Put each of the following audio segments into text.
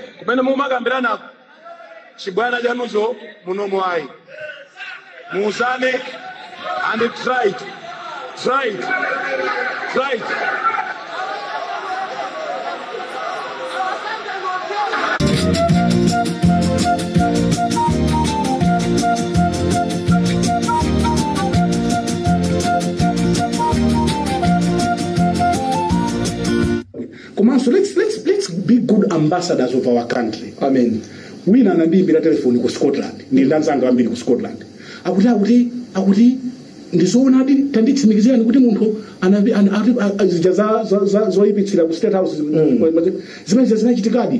kumene mumakambiranako chibwana chanucho munomo mwayi muuzane and try it try it try it komanso let's, let's, let's be good ambassadors of our country amen wina anandiyimbira telefoni ku scotland ndili ndi anzanga ambiri ku scotland akuti akuti akuti ndizoonadi tanditsimikizirani kuti munthu anavi- ana- ati- a- a- zija za- za- za- zoyipitsira ku state house zimene zinachitikadi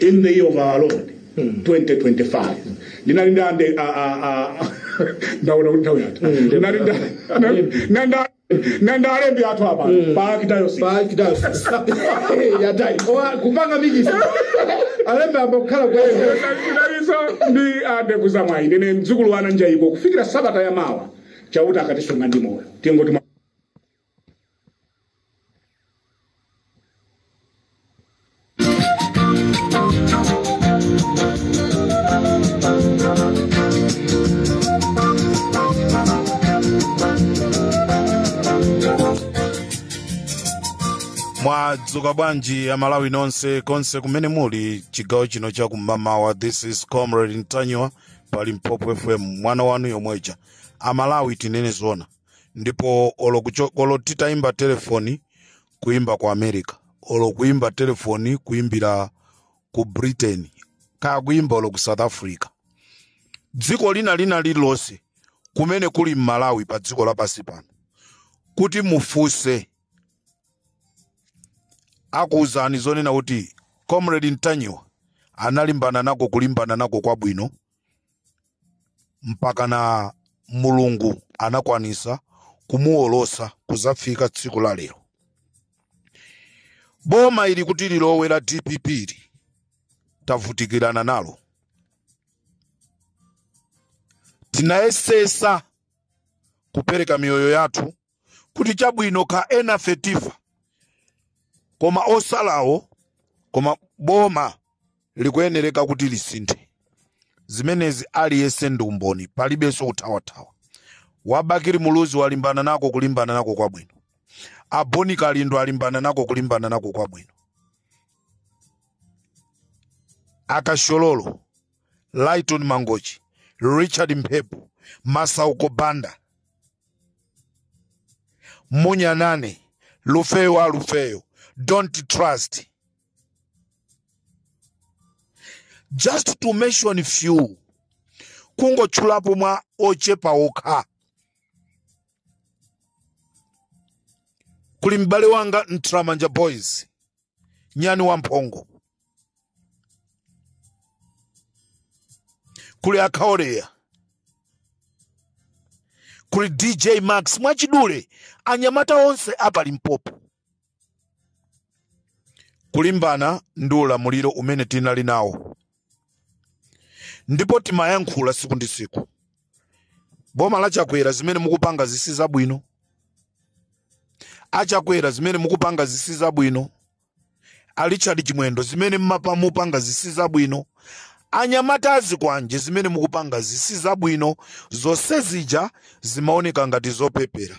in the year of our lord 2025 ndinali ndi ande a- a- a- ndaona kuti nthawi yathu ndinali ndi- na- na- na ndalembi athu apa pa archdiocese yatai kupanga mix alembe a mmbali kukhala kwa yehova ndinaliso ndi ande kuzamwayi ndine mdzukulu wana njayiko kufikira sabata ya mawa chauta akatisunga ndi moyo tingoti mwadzuka bwanji amalawi nonse konse kumene muli chigawo chino cha kumamawa this is comrade ntanyiwa pa limpopo fm mwana wanu yomweja amalawi tinene zona ndipo olo kucho- olo titayimba telefoni kuyimba ku america olo kuyimba telefoni kuyimbira ku britain kaya kuyimba olo ku south africa dziko lina lina lililonse kumene kuli mmalawi pa dziko lapansi pano kuti mufunse akuwuzani zonena kuti comrade ntanyiwa analimbana nako kulimbana nako kwabwino mpaka na mulungu anakwanisa kumuwolosa kuzafika tsiku la lero boma ili kuti lilowe la dpp li tavutikirana nalo tinayesesa kupereka miyoyo yathu kuti chabwino ka enafe tifa koma otsalawo koma boma likuyenereka kuti lisinthe zimenezi aliyense ndi umboni palibenso kuthawathawa wabakili muluzi walimbana nako kulimbana nako kwabwino a bon kalindo alimbana nako kulimbana nako kwabwino akashololo lighton mangochi richard mphepo masauko banda munyanani lufeyo lufeyo don't trust just to mention few kungotchulapo mwa ochepa okha kuli m'bale wanga ntramanja boys nyani wamphongo kuli akaoleya kuli dj max mwachidule anyamata onse a pa limpopo kulimbana ndi ulamuliro umene tinali nawo ndipo timayankhula siku ndi siku boma la chakwera zimene mukupanga zisi zabwino achakwera zimene mukupanga zisi zabwino a richard chimwendo zimene mma- mupanga zisi zabwino anyamata azikwanje zimene mukupanga zisi zabwino zonse zija zimaoneka ngati zopepera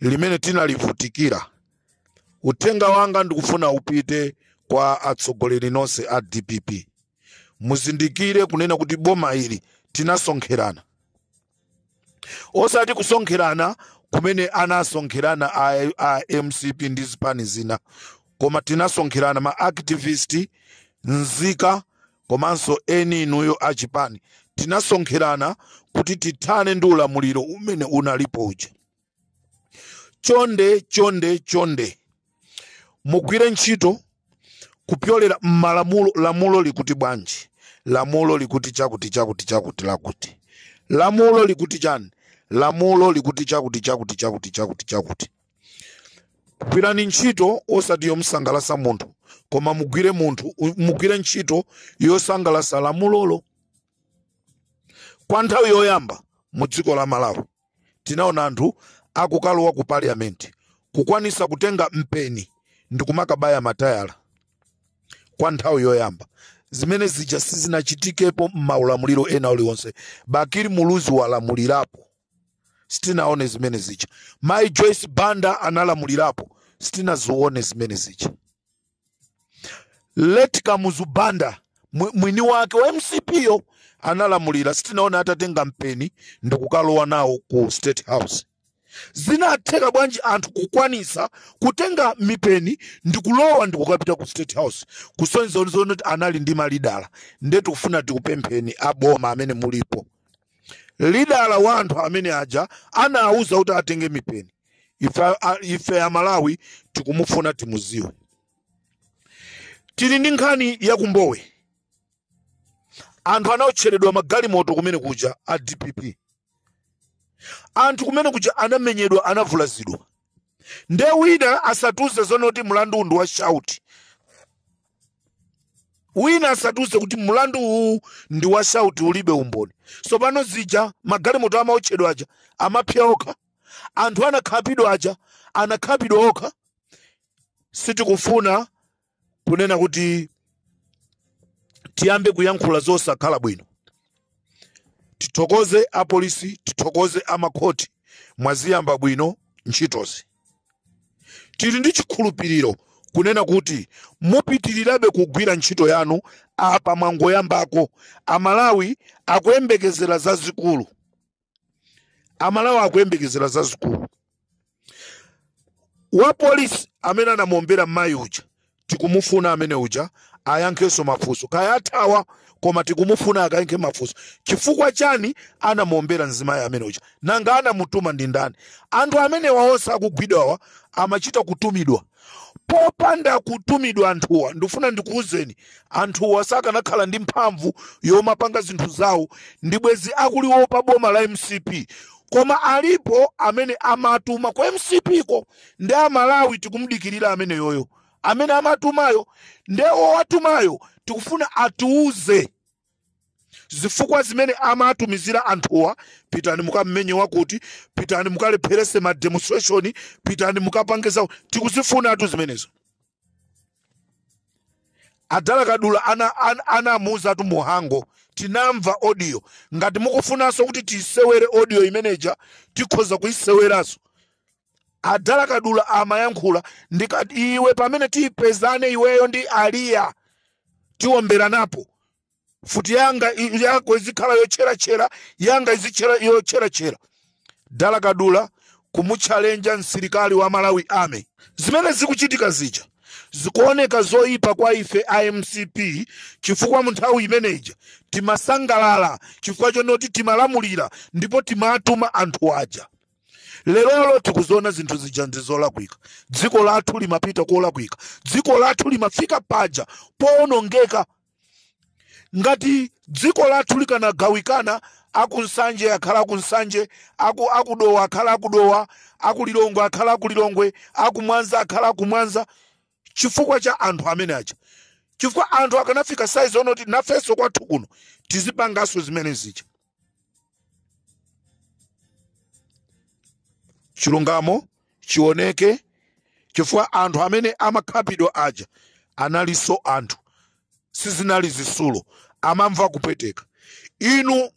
limene tinalivutikira uthenga wanga ndikufuna upite kwa atsogoleri nonse a dpp muzindikire kunena kuti boma ili tinasonkherana osati kusonkherana kumene anasonkherana a mcp ndi zipani zina koma tinasonkherana ma activist nzika komanso eni inuyo a chipani tinasonkherana kuti tithane ndi ulamuliro umene unalipo uja. Chonde chonde chonde mugwire ntchito kupyolera m'malamulo lamulo likuti bwanji lamulo likuti chakuti chakuti chakuti lakuti lamulo likuti chani lamulo likuti chakuti chakuti chakuti chakuti chakuti gwirani ntchito osati yomsangalasa munthu koma mugwire munthu u- mugwire ntchito yosangalasa lamulolo kwa nthawi yoyamba mu dziko la malawi tinaona anthu akukalowa ku parliament kukwanisa kutenga mpeni ndi kumakabaya matayala kwa nthawi yoyamba zimene zija sizinachitikepo m'maulamuliro ena uliwonse bakili muluzi walamulirapo sitinaone zimene zija mayi joyce banda analamulirapo sitinazione zimene zija late kamuzu banda mwi- mwini wake wa mcp yo analamulira sitinaone atatenga mpeni ndikukalowa nawo ku state house zinatheka bwanji anthu kukwanisa kutenga mipeni ndikulowa ndikukapita ku state house kusonyeza kuti anali ndi malidala nde tikufuna tikupempheni aboma amene mulipo lidala wa anthu amene aja anawuza kuti atenge mipeni ife amalawi tikumufuna timuziwe tili ndi nkhani ya kumbowe anthu anaotcheredwa magalimoto kumene kuja a dpp anthu kumene kuja anamenyedwa anavulazidwa nde wina asatiuze zonoti mlanduwu ndi wa shauti wina asatiuze kuti mlandu uwu ndi wa shauti ulibe umboni sopano zija magalimoto amaotchedwa aja amapsa okha anthu anakhapidwa aja anakhapidwa okha sitikufuna kunena kuti tiyambe kuyankhula zosakhala bwino tithokoze apolisi tithokoze amakhoti mwaziyamba bwino ntchitozi tili ndi chikhulupiriro kunena kuti mupitirizabe kugwira ntchito yanu apa mwangoyambako amalawi akuyembekezera zazikulu amalawi akuyembekezera zazikulu wa polisi amene anamuombera mmayi uja tikumufuna amene uja ayankhenso mafunso kaya athawa koma tikumufuna akayankhe mafunso chifukwa chani anamuombera mzimayi amene uja nanga anamutuma ndi ndani anthu amenewa onse akugwidwawa amachita kutumidwa popanda kutumidwa anthuwa ndifuna ndikuwuzeni anthuwa sakanakhala ndi mphamvu yomapanga zinthu zawo ndi bwezi akuliwopa boma la mcp koma alipo amene amatuma kwa mcp ko ndi amalawi tikumdikirira ameneyoyo amene amatumayo nde owatumayo tikufuna atiuze zifukwa zimene amatumizira anthuwa pitani mukammenye wakuti pitani mukalepherese ma demonstration pitani mukapange zawo tikuzifunatu zimenezo a dala kadula ana- ana- anamuuzatu muhango tinamva audio ngati mukufunanso kuti tiyisewere audio imeneja tikhoza kuyiseweranso a dala kadula amayankhula ndikuti iwe pamene tipezane iweyo ndi aliya tiomberanapo futi yanga i- yako izikhala yotcheratchera yanga izikhala yotcheratchera dala kadula kumutchalenja msilikali wa malawi army zimene zikuchitika zija zikuoneka zoyipa kwa ife a mcp chifukwa mu nthawi imeneja timasangalala chifukwa chonoti timalamulira ndipo timatuma anthu aja lerolo tikuziona zinthu zija ndi zolakwika dziko lathu limapita kolakwika dziko lathu limafika paja powonongeka ngati dziko lathu likanagawikana akunsanje akhala akunsanje akudowa akhala akudowa akulilongwe akhala akulilongwe akumwanza akhala akumwanza chifukwa cha anthu amene aja chifukwa anthu akanafika size onoti nafenso kwathu kuno tizipanganso zimene zija chilungamo chioneke chifukwa anthu amene amakhapidwa aja analinso anthu sizinali zitsulo amamva kupweteka inu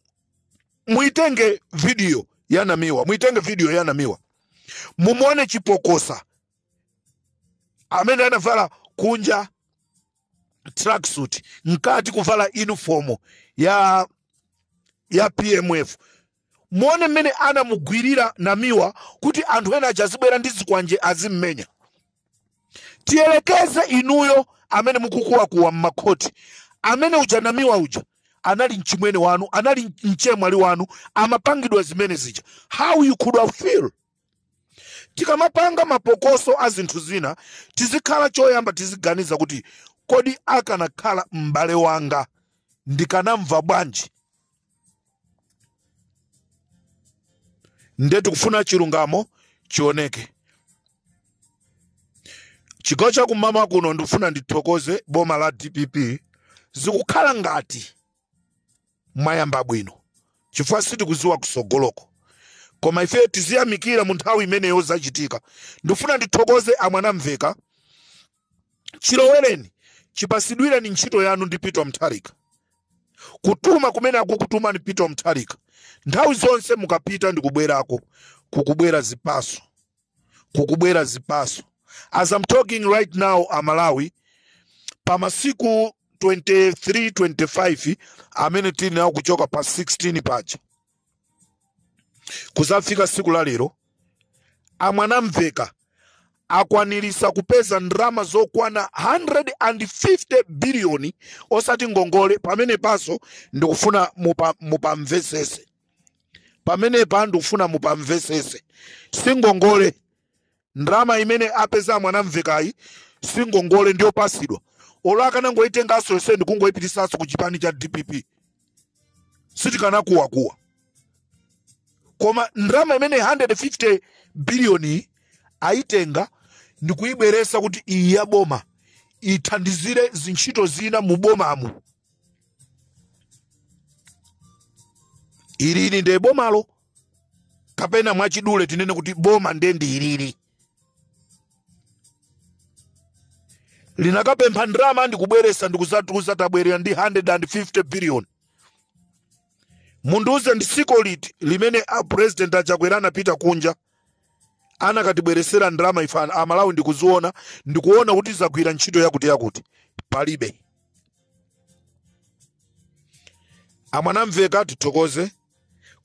muitenge video ya namiwa muitenge video ya namiwa mumuone chipokosa amene anavala kunja tracksuit mkati kuvala uniform ya pmf muone mmene anamugwirira namiwa kuti anthu ena aja azibwera ndi zikwanje azimmenya tiyelekeze inuyo amene mukukuwakuwa mmakhoti amene uja namiwa uja anali mchimwene wanu anali mchemwali wanu amapangidwa zimene zija how you could have feel tikamapanga mapokoso a zinthu zina tizikhala choyamba tiziganiza kuti kodi akanakhala m'bale wanga ndikanamva bwanji nde tikufuna chilungamo chioneke chigawo cha kummawa kuno ndikufuna ndithokoze boma la dpp zikukhala ngati mwayamba bwino chifukwa sitikuziwa kusogoloko koma ife tiziyamikira mu nthawi imeneyo zachitika ndifuna ndithokoze a mwanamveka chilowereni chipasidwire ntchito yanu ndi peter mutharika kutuma kumene akukutumani peter mutharika nthawi zonse mukapita ndikubwerako kukubwera zipaso kukubwera zipaso as i'm talking right now amalawi pa masiku 23 25 amene tili nawo kuchoka pa 16 paja kuzafika siku la lero a mwanamveka akwanirisa kupeza ndalama zokwana 150 biliyoni osati ngongole pamenepanso ndikufuna mupa- mupamvesese pamenepa ndikufuna mupamvesese singongole ndalama imene apeza mwanamvekayi singongole ndiyopasidwa olo akanangoitenganso yonse ndikungoipitisanso ku chipani cha dpp sitikanakuwakuwa koma ndalama imene 150 biliyoni ayitenga ndikuyibweresa kuti iyi ya boma ithandizire zintchito zina mu bomamu ilili ndiye bomalo kapena mwachidule tinene kuti boma ndiye ndi ilili linakapempha ndalama ndikubweresa ndikuzatiuza tabwerera ndi 150 billion mundiuze ndi siku liti limene a president a chakwera anapita kunja anakatibweresera ndalama ife an- amalawi ndikuziona ndikuona kuti zagwira ntchito yakuti yakuti palibe a mwanamvekha tithokoze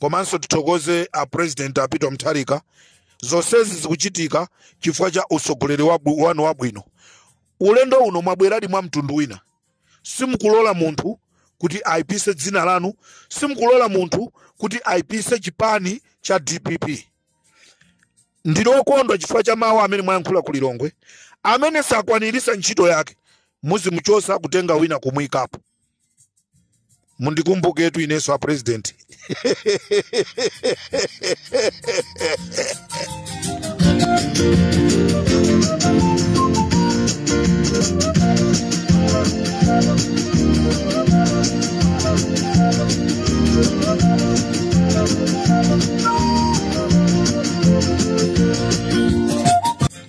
komanso tithokoze a president a peter mutharika zonsezi zikuchitika chifukwa cha utsogoleri wabwi- wanu wabwino ulendo uno mwabweradi mwa mtundu wina simukulola munthu kuti aipise dzina lanu simukulola munthu kuti aipise chipani cha dpp ndili okondwa chifukwa cha mawu amene mwayankhula ku lilongwe amene sakwanirisa ntchito yake muzimuchosa kutenga wina kumuyikapo mundikumbuketu inenso a president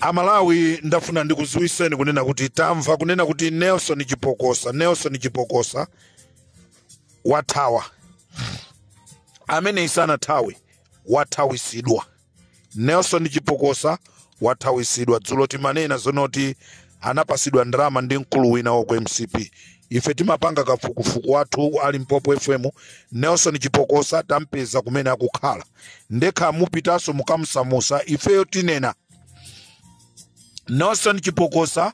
amalawi ndafuna ndikuziwiseni kunena kuti tamva kunena kuti nelson chipokosa nelson chipokosa wathawa ameneyi sanathawe wathawisidwa nelson chipokosa wathawisidwa dzulo timanena zonoti anapasidwa ndalama ndi mkulu wina wa ku mcp ife timapanga kafukufuku wathu ali mpopo fm nelson chipokosa tampeza kumene akukhala nde kaya mupitanso mukamsamusa ifeyo tinena nelson chipokosa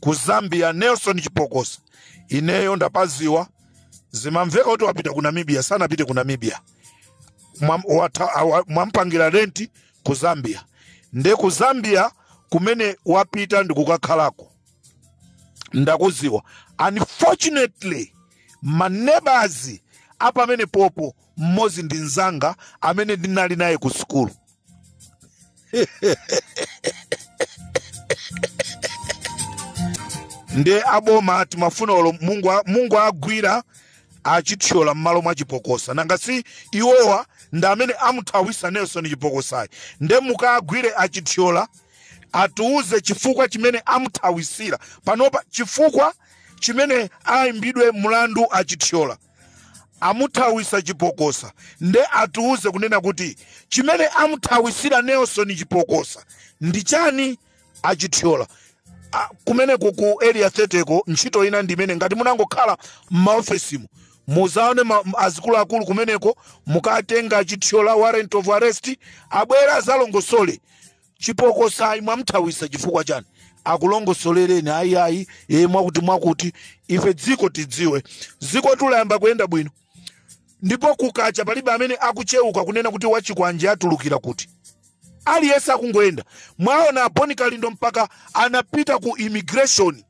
ku zambia nelson chipokosa ineyo ndapaziwa zimamveka kuti wapita ku namibia sanapite ku namibia Mwam- wata- awa- mwampangira renti ku zambia nde ku zambia kumene wapita ndi kukakhalako ndakuziwa unfortunately maneighbors apamene popo mmodzi ndi mnzanga amene ndinali naye ku sukulu nde aboma atimafuna olo mungo a- mungowagwira achithyola m'malo mwa chipokosa nanga si iwowa ndi amene amuthawisa nelson chipokosayi nde mukagwire achithyola atiuze chifukwa chimene amuthawisira panopa chifukwa chimene aimbidwe mlandu achithyola amuthawisa chipokosa nde atiuze kunena kuti chimene amuthawisira nelson chipokosa ndi chani achithyola A- kumeneko ku area 30 ko ntchito ina ndi imene ngati munangokhala m'maofesimo muzaone ma- m- azikuluakulu kumeneko mukatenge achithyola warrant of arrest abwere azalongosole chipokosa ayi mwamthawisa chifukwa chani akulongosolereni ayi ayi ee mwakuti mwakuti ife dziko tidziwe dziko layamba kuyenda bwino ndipo kukacha palibe amene akucheuka kunena kuti wachikwanje atulukira kuti aliyense akungoyenda mwaona boni kalindo mpaka anapita ku immigration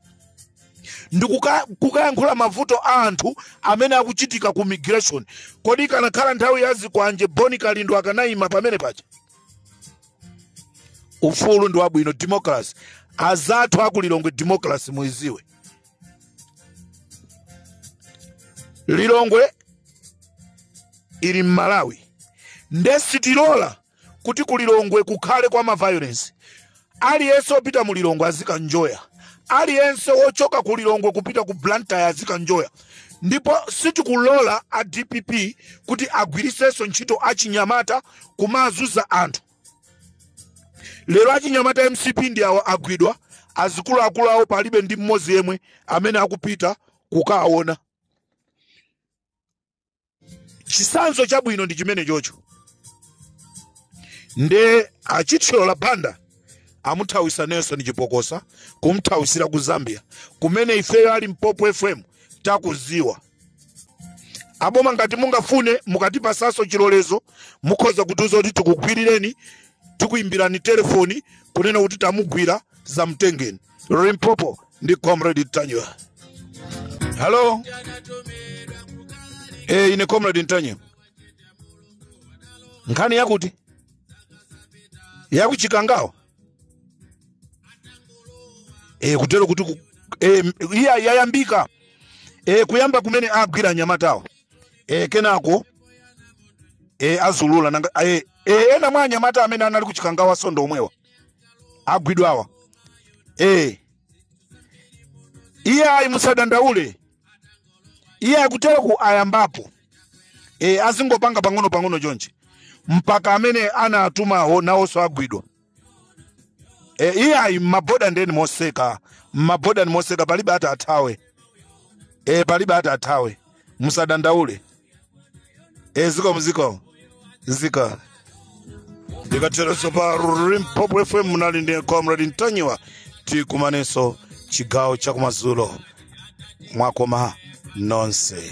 ndi kuka- kukayankhula mavuto a anthu amene akuchitika ku immigration kodi ikanakhala nthawi ya zikwanje boni kalindo akanayima pamene paja ufulu ndi wabwino democracy azathu akulilongwe democracy muiziwe lilongwe ili mmalawi nde sitilola kuti kulilongwe kukhale kwa maviolence Aliyense opita mu Lilongwe azikanjoya, aliyense wochoka ku Lilongwe kupita ku Blantyre azikanjoya, ndipo sitikulola a DPP kuti agwiritsenso ntchito achinyamata kumazuza anthu. Lero achinyamata MCP ndi awo agwidwa, azikuluakulu awo palibe ndi mmodzi yemwe amene akupita kukaona. chisanzo chabwino ndi chimene chocho nde achithyola banda amuthawisa nelson chipokosa kumthawisira ku zambia kumene ifeyo a limpopo fm takuziwa aboma ngati mungafune mukatipasanso chilolezo mukhoza kutiuza kuti tikugwirireni tikuimbirani telefoni kunena kuti tamugwira zamtengeni limpopo ndi comrade ntanyiwa halo e, ine comrade ntanyiwa nkhani yakuti yakuchikangawa e, kutero kuti ku, e, iya yayambika e, kuyamba kumene agwira anyamatawo e, kenako e, azaulula nanga e, e, ena mwa anyamata amene anali kuchikangawa sindi omwewa agwidwawa eh iye ayi musadandaule iye akutero ku ayambapo e, azingopanga pang'ono pang'ono chonchi mpaka amene anatumawo nawonso agwidwa e, iye ayi mmaboda ndeni moseka mmaboda ni moseka palibe ati athawe e, palibe ati athawe musadandaule e zikomo zikomo zikomo ndikatereso pa limpopo fm munali ndi comrade ntanyiwa tikumanenso chigawo chakumadzulo mwakoma nonse